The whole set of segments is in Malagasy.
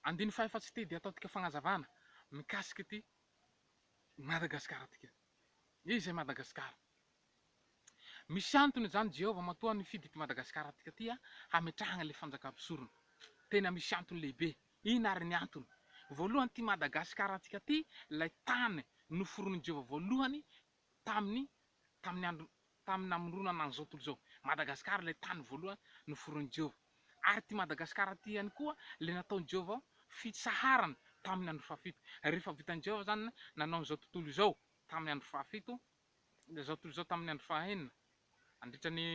Andininy fahaefatsy ity dia ataontika fanazavana mikasika ity Madagasikara tika. Iza i Madagasikara? Misy antony izany Jehovah matoa nifidy ity Madagasikara tika ity hametrahana ilay fanjaka mpisorona. Tena misy antony lehibe. Inona ary ny antony? Voalohany ity Madagasikara tika ity, ilay tany noforonin'i Jehovah voalohany Tamin'ny tamin'ny andro tamin'ny namoronana an'izao tontolo izao, Madagasikara ilay tany voalohany noforonin'i Jehovah. Ary ity Madagasikara ity ihany koa ilay nataon'i Jehovah fitsaharana tamin'ny andro fahafito. Rehefa vitan'i Jehovah izany nanao an'izao tontolo izao tamin'ny andro fahafito, izao tontolo izao tamin'ny andro fahenina, Nandritra ny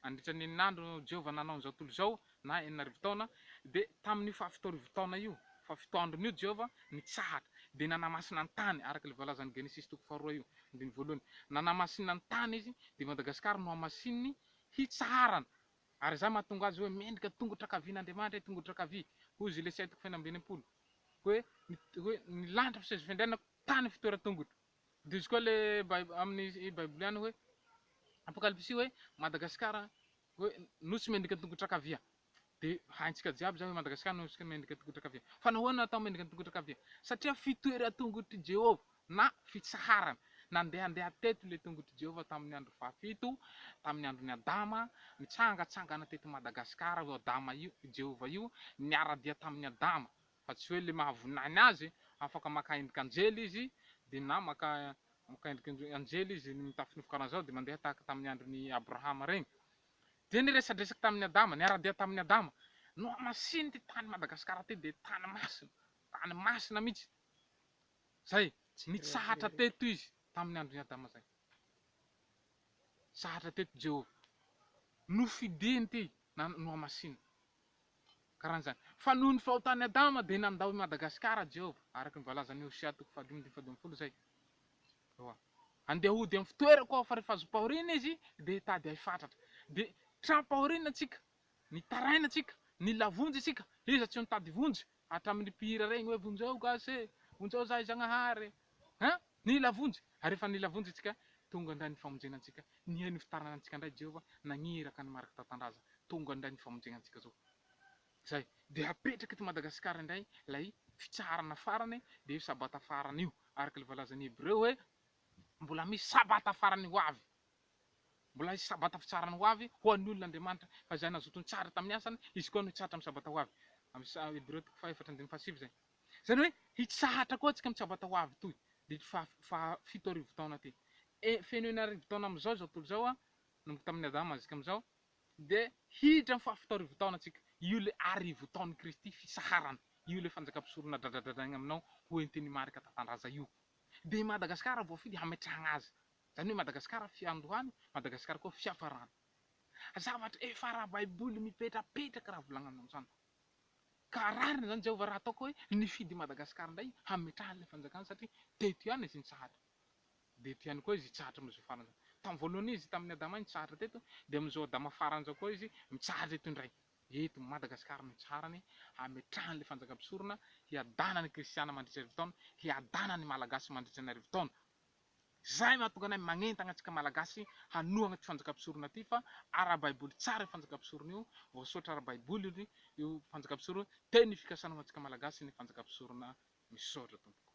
nandritra ny enin'andro no Jehovah nanao an'izao tontolo izao, na enina arivo taona. Dia tamin'io fahafito arivo taona io, fahafito androny io, Jehovah nitsahatra, dia nanamasina ny tany, araka ilay voalazan'ny Genesisy toko faharoa io, andininy voalohany. Nanamasina ny tany Izy, dia Madagasikara no hamasininy hitsaharana. Ary izany mahatonga azy hoe mendrika tongotra ankavian'Andriamanitra, tongotra ankavia. Hoy Zilesy I toko fahenina amby enimpolo, hoe, hoe, Ny lanitra fisezo fiandrianako, tany fitoeran-tongotro. Indrisy koa le aminy baiboly any hoe apokalipsy hoe Madagascar hoe nosy mendrika tongotra kavia de haintsika jiaby zany hoe Madagascar nosy mendrika tongotra kavia fa nahoana atao mendrika tongotra kavia satria fitoera tongotr'i Jehovah na fitsaharana nandehandeha teto le tongotr'i Jehovah tamin'ny andro fahafito tamin'ny andron'i Adama nitsangatsangana teto Madagascar io Adama io Jehovah io niara-dia tamin'i Adama fa tsy hoe le mahavoninahiny azy, afaka maka endrika anjely izy de na maka maka endrika anjely izy mitafy nofo karanzao de mandeha tahaka tamin'ny andron'i Abrahama regny, de ny resadresaky tamin'i Adama, niara-dia tamin'i Adama, nohamasininy ty tany Madagasikara ty de tany masina, tany masina mitsy, zay, nitsahatra teto izy tamin'ny andron'i Adama zay, nitsahatra teto Jehovah, nofidiny ty na nohamasininy. karan'izany. Fa noho ny fahotan'i Adama dia nandao i Madagasikara Jehovah, araka ny voalazan'i Hosea toko fahadimy andininy fahadimy ambin'ny folo izay. Ewa. Handeha hody amin'ny fitoerako aho, fa rehefa zom-pahoriana izy dia hitady ahy fatratra. Dia tram-pahoriana isika, nitaraina isika, nilavonjy isika, iza tsy ho nitady vonjy? Hatramin'ny mpihira regny hoe vonjeo gasy e, vonjeo zahay Zagnahary e, hein! Nila vonjy, ary rehefa nila vonjy antsika, tonga indray ny famonjena antsika, nihaino ny fitarana antsika indray Jehovah, nagniraka ny mariky tan-tandraza, tonga indray ny famonjena antsika zao. Zay, dia hapetraka eto Madagasikara indray lay fitsaharana farany, dia io sabata farany io, araka le voalazan'ny Hebreo hoe mbola misy sabata farany ho avy. Mbola hisy sabata fitsarana ho avy ho an'ny olon' Andriamanitra, fa izay nazoto nitsara tamin'ny asany, izy koa no hitsahatra amin'ny sabata ho avy. Amin'ny Hebreo toko fahefatra andininy fahasivy izay. Izany hoe, hitsahatra koa antsika amin'ny sabata ho avy itoy, ity faha faha fito arivo taona ity. E, feno enina arivo taona amin'izao izao tontolo izao, nanomboka tamin'ny Adama zisika amin'izao, dia hiditra amin'ny faha fito arivo taona antsika. Io ilay arivo taon'i Kristy fisaharana, io ilay fanjakam-pisorona dradradradraigna aminao ho entin'ny marika tantandraza io. Dia i Madagasikara voafidy hametrahagna azy. Izany hoe Madagasikara fiandohana, Madagasikara koa fiafarana. Zavatra efa ara-baiboly mipetrapetraka raha volagnana amin'izany. Ka rariny izany Jehovah raha ataoko hoe nifidy i Madagasikara indray hametrahany ilay fanjakany satria teto ihany izy nitsahatra. Dia eto ihany koa izy hitsahatra amin'izao farany izao. Tamin'ny voalohany izy tamin'i Adama iny nitsahatra teto, dia amin'izao Adama farany izao koa izy mitsahatra eto indray. Eto Madagasikara no itsaharany hametrahany ilay fanjaka-mpisorona hiadanan'ny kristiana mandritra arivo taona, hiadanan'ny malagasy mandritra ny arivo taona. Izay no hahatonga anay magnentagna antsika Malagasy hanohagna ity fanjakam-pisorona ity fa ara-baiboly tsara io fanjakam-pisorona io, voasoratra ara-baiboly io fanjakam-pisorona io, tena ny fikasana ho antsika Malagasy ny fanjakam-pisorona. Misaotra tompoko.